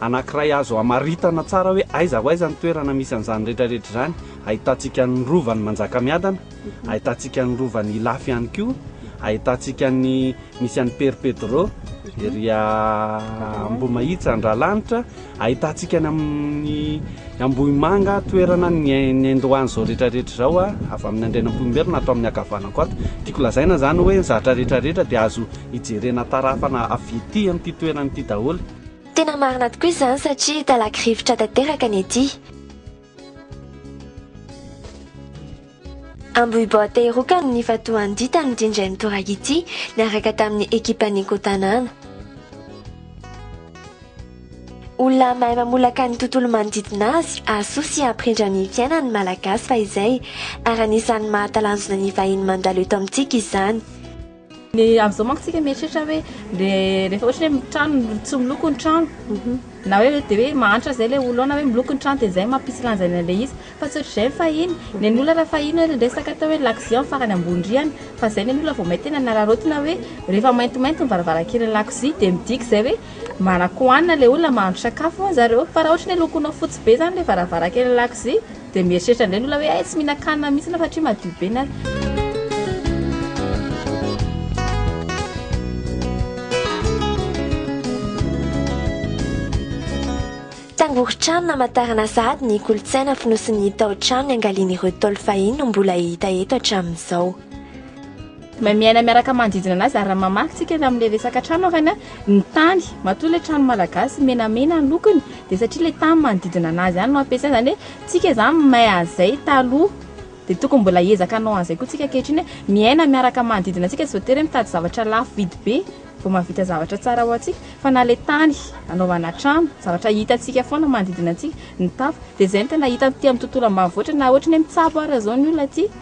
anankiray azo hamaritana tsara hoe aiza ho aiza ny toerana misy an'izany rehetrarehetra izany. Ahitantsika ny Rovan'i Manjakamiadana, ahitantsika ny Rovan'i Ilafy ihany koa, ahitantsika ny misy an'i Père Pedro, ery Ambohimahitsy, Andralanitra, ahitantsika ny amin'ny Ambohimanga, toerana niandohan'izao rehetrarehetra izao avy amin'ny Andrianampoinimerina ato amin'ny ankavanako ato. Tiako lazaina izany hoe ny zavatra rehetrarehetra dia azo ijerena tarafana avy ety amin'ity toerana ity daholo. Tena marina tokoa izany satria talaky rivotra tanteraka ny ety. Ambohiboaty Heroka no nifantohan'ny dita nodindray ny toraka ity niaraka tamin'ny ekipan'ny Ecotanana. Olona mahay mamolaka ny tontolo manodidina azy, asoa sy hampirindra ny fiainan'ny Malagasy fahizay, ary anisan'ny mahatalanjona ny vahiny mandalo eto amintsika izany. Ny amin'izao manko tsika mieritreritra hoe le rehefa ohatra hoe trano tsy miloko ny trano mhm. na hoe dia hoe mahantra izay le olona hoe miloko ny trano dia izay mampisy lanjaina le izy fa tsy ohatr'izay ny fahiny ny an'olona raha fahiny hoe resaka atao hoe lakozia farany ambony rihana fa izay ny an'olona vao may tena nararaotina hoe rehefa maintimainty ny varavarankelin'ny lakozia dia midika izay hoe manankohanina le olona mahandro sakafo hono zareo fa raha ohatra ny lokonao fotsy be izany le varavarankelin'ny lakozia Dia mieritreritra indray ny olona hoe hay tsy mihinan-kanina mihitsy na satria madio be na. Tangoron-trano namantarana sahady ny kolontsaina fonosin'ny taotrano niangalian'ireo Ntaolo fahiny no mbola hita eto hatramin'izao. Mahay miaina miaraka manodidina anazy ary raha mamaky tsika ny amin'ilay resaka trano ary a, ny tany, matoa ilay trano malagasy menamena ny lokony dia satria ilay tany manodidina anazy ihany no ampiasaina, izany hoe tsika izany mahay an'izay taloha dia tokony mbola hiezaka hanao an'izay koa tsika ankehitriny hoe miaina miaraka manodidina antsika, tsy voatery hoe mitady zavatra lafo vidy be vao mahavita zavatra tsara ho antsika fa na ilay tany anaovana trano, zavatra hitantsika foana manodidina antsika, ny tafo, dia izay no tena hita aty amin'ny tontolo ambanivohitra na ohatry ny hoe mitsabo ara izao ny olona aty.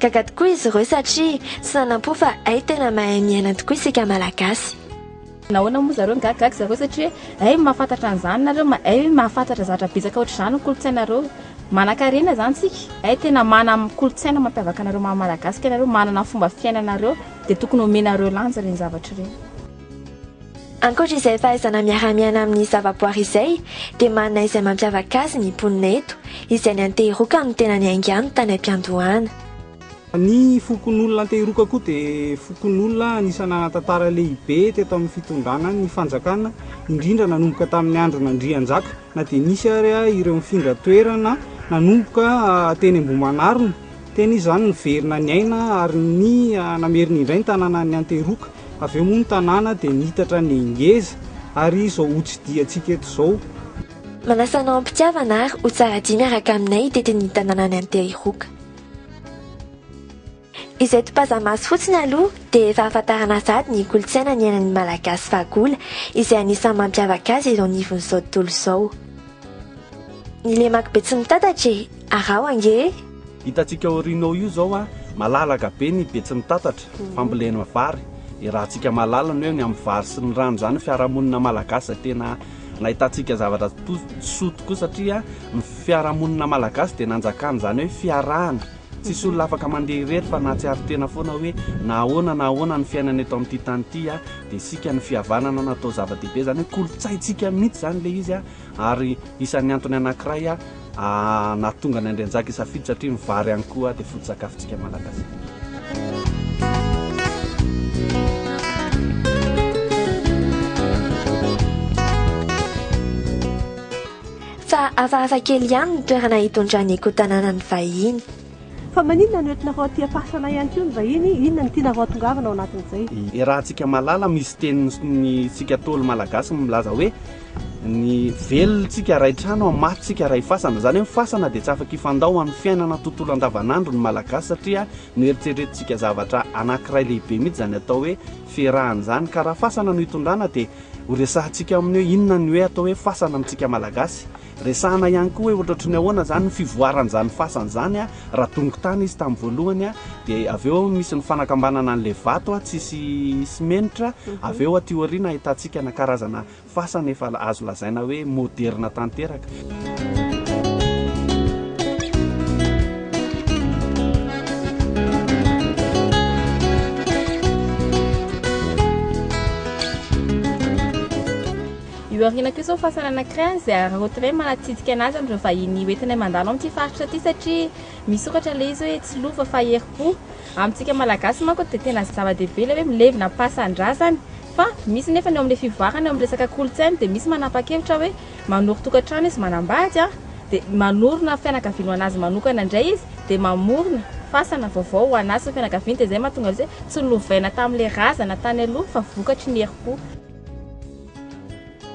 Gaga tokoa izy ireo satria tsy nanam-po fa hay tena mahay miaina tokoa isika Malagasy. Nahoana moa zareo migagagaga zareo satria hay mahafantatra an'izany nareo hay mahafantatra zavatra betsaka ohatr'izany ny kolontsainareo manankarena zany tsika hay tena mana kolontsaina mampiavaka anareo maha malagasy ka ianareo manana fomba fiainanareo dia tokony omenareo lanja ireny zavatra ireny Ankoatra izay fahaizana miara-miaina amin'ny zavaboary izay dia manana izay mampiavaka azy ny mponina eto izay ny Antehiroka no tena niaingano tany am-piandohana. Ny fokonolona Antehiroka koa dia fokonolona anisan'ny nanan-tantara lehibe teto amin'ny fitondrana ny fanjakana indrindra nanomboka tamin'ny andron'Andrianjaka na dia nisy ary ireo nifindra toerana nanomboka teny Ambohimanarina teny izany niverina niaina ary ny namerina indray ny tanànan'ny Antehiroka Avy eo moa ny tanàna dia niitatra ny ngeza ary izao hotsidihantsika eto izao. Manasa anao am-pitiavana ary ho tsara dihy miaraka aminay hitety ny tanànan'i Anteriroka. Izay topaza-maso fotsiny aloha dia efa ahafantarana sahady ny kolontsaina niainan'ny Malagasy fahagola izay anisan'ny mampiavaka azy eto anivon'izao tontolo izao. Ny lemak'i Betsimitatatra e! Araho ange e! Hitantsika aoriana ao io izao a, malalaka be ny Betsimitatatra, fambolena vary, iarahantsika mahalala ny hoe ny amin'ny vary sy ny rano izany ny fiarahamonina malagasy izay tena nahitantsika zavatra to- soa tokoa satria ny fiarahamonina malagasy dia nanjakany izany hoe fiarahana, tsisy olona afaka mandeha irery fa nahatsiaro tena foana hoe na ahoana na ahoana ny fiainana eto amin'ity tany ity a, dia isika ny fihavanana no atao zava-dehibe, izany hoe kolontsaintsika mihitsy izany ilay izy a, ary isan'ny antony anankiray a, nahatonga an'i Andrianjaka hisafidy satria ny vary ihany koa dia foto-tsakafontsika Malagasy. Fa hafahafa kely ihany ny toerana hitondrany koa tanànan'ny vahiny. Fa maninona no entinareo aty ampasana ihany koa ny vahiny? Inona no tianareo atongavana ao anatin'izay? Iarahantsika malala misy teniny tsika ntaolo malagasy milaza hoe ny velon tsika ray trano an maty tsika ray fasana izany hoe ny fasana dia tsy afaka hifandao amin'ny fiainana tontolo andavanandro ny malagasy satria no eritreretin tsika zavatra anakiray lehibe mihitsy izany atao hoe fiarahana izany ka raha fasana no hitondrana dia ho resahantsika aminy hoe inona ny hoe atao hoe fasana amintsika malagasy Resahana ihany koa hoe hotrotry ny ahoana izany ny fivoaran'izany fasana izany raha dongo tany izy tamin'ny voalohany dia avy eo misy ny fanakambanana an'ilay vato tsy hisy simenitra avy eo aty aoriana ahitantsika na karazana fasana efa azo lazaina hoe moderina tanteraka. Io aoriana kosa ho fasana anankiray any izay hararaotina hoe manatsidika an'azy amin'ireo vahiny hoentinay mandalo amin'ity faritra ity satria misokatra ilay izy hoe tsy lova fa herim-po. Amintsika Malagasy manko dia tena zava-dehibe ilay hoe milevina am-pasan-drazany fa misy nefa ny eo amin'ilay fivoarana eo amin'ny resaka kolontsaina dia misy manapa-kevitra hoe manoro tokantrano izy manambady an! dia manorina fianakaviana ho an'azy manokana indray izy dia mamorona fasana vaovao ho an'azy sy ny fianakaviany dia izay mahatonga azy hoe tsy lovaina tamin'ilay razana tany aloha fa vokatry ny herim-po.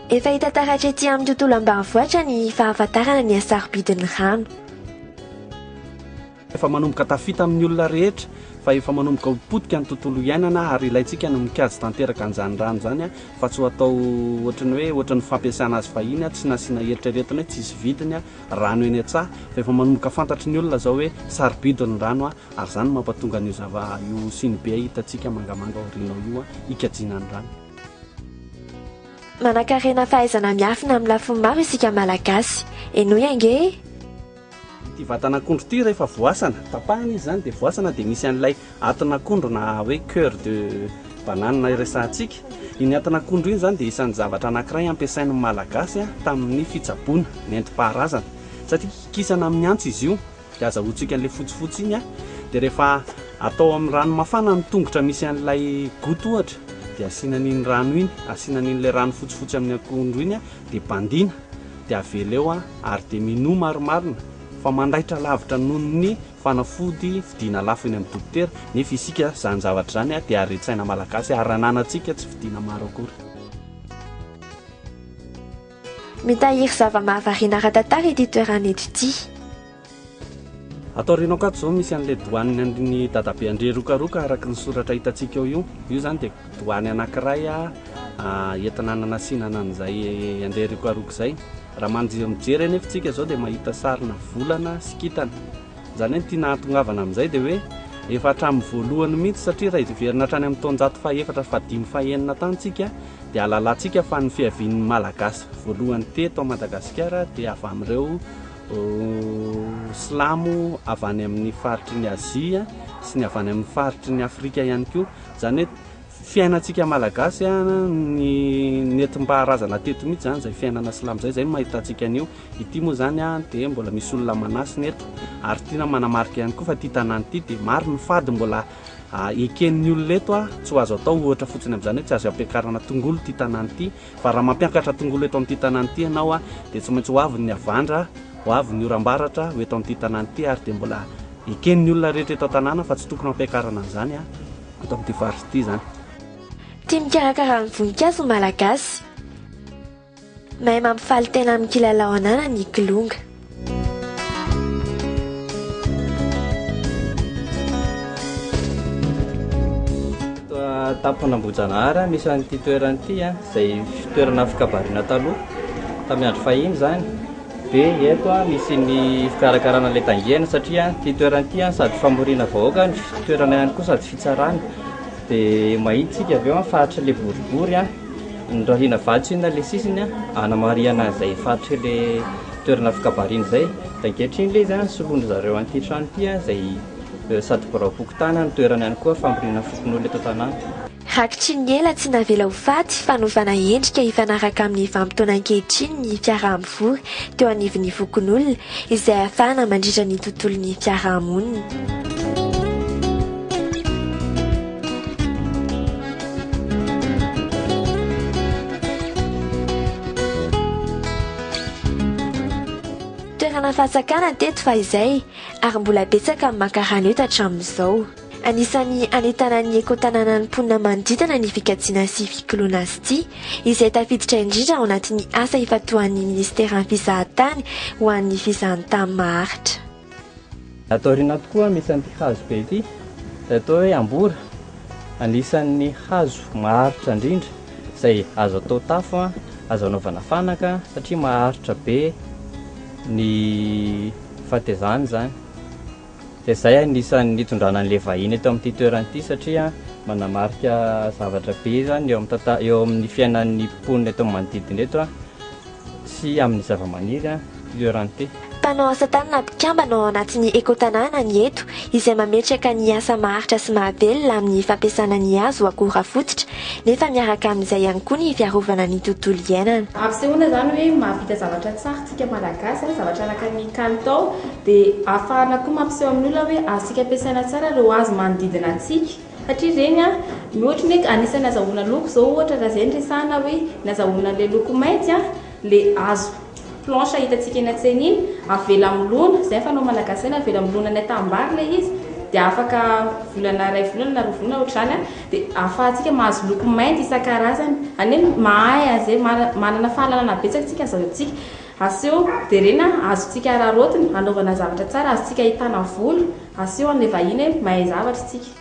Efa hita taratra ety amin'ny tontolo ambanivohitra ny fahafantarana ny hasarobidin'ny rano. Efa manomboka tafita amin'ny olona rehetra fa efa manomboka ho potika ny tontolo iainana ary ilaintsika ny mikajy tanteraka an'izany rano izany fa tsy ho atao ohatry ny hoe ohatry ny fampiasana azy fahiny tsy nasiana eritreretina hoe tsisy vidiny rano eny an-tsaha fa efa manomboka fantatry ny olona izao hoe sarobidy ny rano ary izany no mampatonga an'io zava io siny be hitantsika mangamanga aoriana ao io hikajiana ny rano. Manankarena fahaizana miafina amin'ny lafiny maro isika Malagasy. Henoy ange e! Ity vatan'akondro ity rehefa voasana, tapahana izy izany dia voasana dia misy an'ilay atin'akondro na hoe coeur de banane iresahantsika. Iny atin'akondro iny izany dia isan'ny zavatra anankiray ampiasain'ny Malagasy tamin'ny fitsaboana nentim-paharazana satria kikisana amin'ny antsy izy io Dia azahoantsika an'ilay fotsifotsy iny an! Dia rehefa atao amin'ny rano mafana ny tongotra misy an'ilay gout ohatra dia asiana an'iny rano iny, asiana an'ilay rano fotsifotsy amin'ny akondro iny an! Dia bandiana dia avela eo an! Ary dia minoa marimarina fa mandaitra lavitra noho ny fanafody vidiana lafo eny amin'ny dokotera, nefa isika izany zavatra izany an! Dia haren-tsaina malagasy ary ananantsika tsy vidiana maro akory. Mitahiry zava-mahavariana ara-tantara ity toerana eto ity. Ato aoriana ato izao misy an'ilay doany an'ny dadabe Andriarokaroka araka ny soratra hitantsika eo io. Io izany dia doany anankiray entina hananasinana an'izay Andriarokaroka izay. Raha mijery anefa isika izao dia mahita sarina volana sy kintana. Izany hoe ny tiana hahatongavana amin'izay dia hoe efa hatramin'ny voalohany mihitsy satria raha hiverina hatrany amin'ny taonjato fahaefatra sy fahadimy fahenina tany isika dia hahalalantsika fa ny fiavian'ny Malagasy voalohany teto Madagasikara dia avy amin'ireo Silamo avy any amin'ny faritry ny Azia sy ny avy any amin'ny faritry ny Afrika ihany koa. Izany hoe fiainantsika Malagasy ny nentim-paharazana teto mihitsy izany izay fiainana Silamo izay, izay no mahitantsika an'io. Ity moa izany dia mbola misy olona manasina eto ary tiana manamarika ihany koa fa ity tanàna ity dia maro ny fady mbola eken'ny olona eto. Tsy ho azo atao ohatra fotsiny amin'izany hoe tsy azo ampiakarana tongolo ity tanàna ity fa raha mampiakatra tongolo eto amin'ity tanàna ity ianao dia tsy maintsy ho avy ny havandra, ho avy ny oram-baratra ho eto amin'ity tanàna ity ary dia mbola eken'ny olona rehetra eto an-tanàna fa tsy tokony hampiakarana an'izany eto amin'ity faritra ity izany. Tia mikarakara ny voninkazo ny Malagasy. Mahay mampifaly tena amin'ny kilalao ananany i Kilonga. Tampona Ambohijanahary no misy an'ity toerana ity izay toerana fikabarina taloha tamin'ny andro fahiny izany dia eto misy ny fikarakarana ilay tangehana satria ity toerana ity sady famoriana vahoaka no toerana ihany koa sady fitsarana dia mahita isika avy eo ny faritr'ilay boribory Norahina vatsina ilay sisiny hanamarihana izay faritry ilay toerana fikabarina izay. Dia ankehitriny ilay izy dia soloin-dry zareo an'ity trano ity izay sady biraom-pokontany no toerany ihany koa famoriana fokonolona eto an-tanàna. Rakitry ny ela tsy navela ho faty, fanovana endrika hifanaraka amin'ny vanim-potoana ankehitriny ny fiaraha-mivory teo anivon'ny fokonolona, izay afahana mandritra ny tontolon'ny fiaraha-monina. Toerana fahatsakana teto fahizay ary mbola betsaka ny mankarany eto hatramin'izao. Anisan'ny hanentanana ny ekotanànan'ny mponina manodidina ny fikajiana sy fikoloana azy ity, izay tafiditra indrindra ao anatin'ny asa ifantohan'ny Minisiteran'ny Fizahantany ho an'ny Fizahantany maharitra. Ato aoriana ato koa misy an'ity hazo be ity, izay atao hoe ambora. Anisan'ny hazo maharitra indrindra, izay azo atao tafo, azo anaovana fanaka, satria maharitra be ny fahatezana izany. Dia izay anisan'ny nitondrana an'ilay vahiny eto amin'ity toerana ity satria manamarika zavatra be izany eo amin'ny tanta- eo amin'ny fiainan'ny mponina eto amin'ny manodidina eto sy amin'ny zavamaniry ity toerana ity. Mpanao asa tanana mpikambana ao anatin'ny Ekotanàna ny eto izay mametraka ny asa maharitra sy mahavelona amin'ny fampiasana ny hazo ho akora fototra nefa miaraka amin'izay ihany koa ny fiarovana ny tontolo iainana. Ampisehoana izany hoe mahavita zavatra tsara isika Malagasy a, zavatra araka ny kalitao dia ahafahana koa mampiseho amin'ny olona hoe azontsika ampiasaina tsara ireo hazo manodidina antsika satria ireny a, ny ohatra ny hoe anisan'ny azahoana loko izao ohatra raha izay no resahina hoe ny azahoana an'ilay loko mainty a, ilay hazo planche hitantsika eny an-tsena iny, avela milona, izay ny fanao Malagasy hoe avela milona any an-tanimbary ilay izy dia afaka volana, iray volana na roa volana ohatr'izany a. dia ahafahantsika mahazo loko mainty isan-karazany. Anie mahay an'izay, manana fahalalana betsaka isika izao isika. Aseho jerena, azontsika araraotina, anaovana zavatra tsara, azontsika ahitana vola, aseho an'ilay vahiny hoe mahay zavatra isika.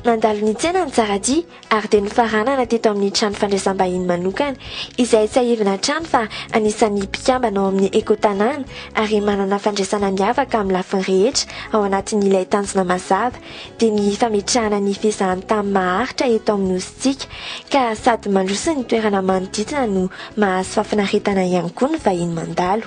Mandalo ny tsena mitsara-dia, ary dia nofaranana teto amin'ny trano fandraisam-bahiny manokana, izay tsiahivina hatrany fa anisan'ny mpikambana ao amin'ny Ecotanàna ary manana fandraisana miavaka amin'ny lafiny rehetra ao anatin'ilay tanjona mazava dia ny fametrahana ny fizahantany maharitra eto amin'ny Nosintsika ka sady mandroso ny toerana manodidina no mahazo fahafinaretana ihany koa ny vahiny mandalo.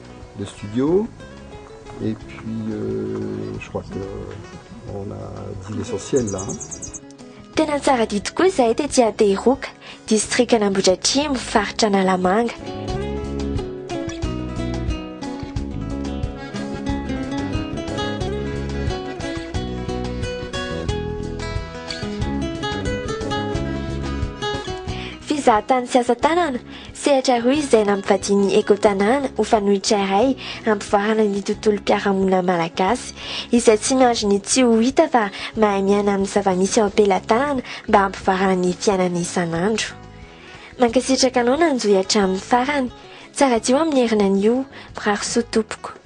le studio et puis euh, je crois que euh, on a dit l'essentiel là. Tena tsara dia tokoa izahay tety Atehiroka, distrika Nambohidratrimo, faritra Analamanga. Fizahan-tany sy asa tanana Sehatra roa izay nampivadian'ny Ecotanana ho fanoitra iray hampivoarana ny tontolom-piarahamonina malagasy, izay tsy miandry ny tsy ho hita fa mahay miaina amin'ny zava-misy eo am-pelatanana mba hampivoarana ny fiainana isan'andro. Mankasitraka anao nanjohy hatramin'ny farany. Tsara hadio amin'ny herinan'io. Mirary soa tompoko.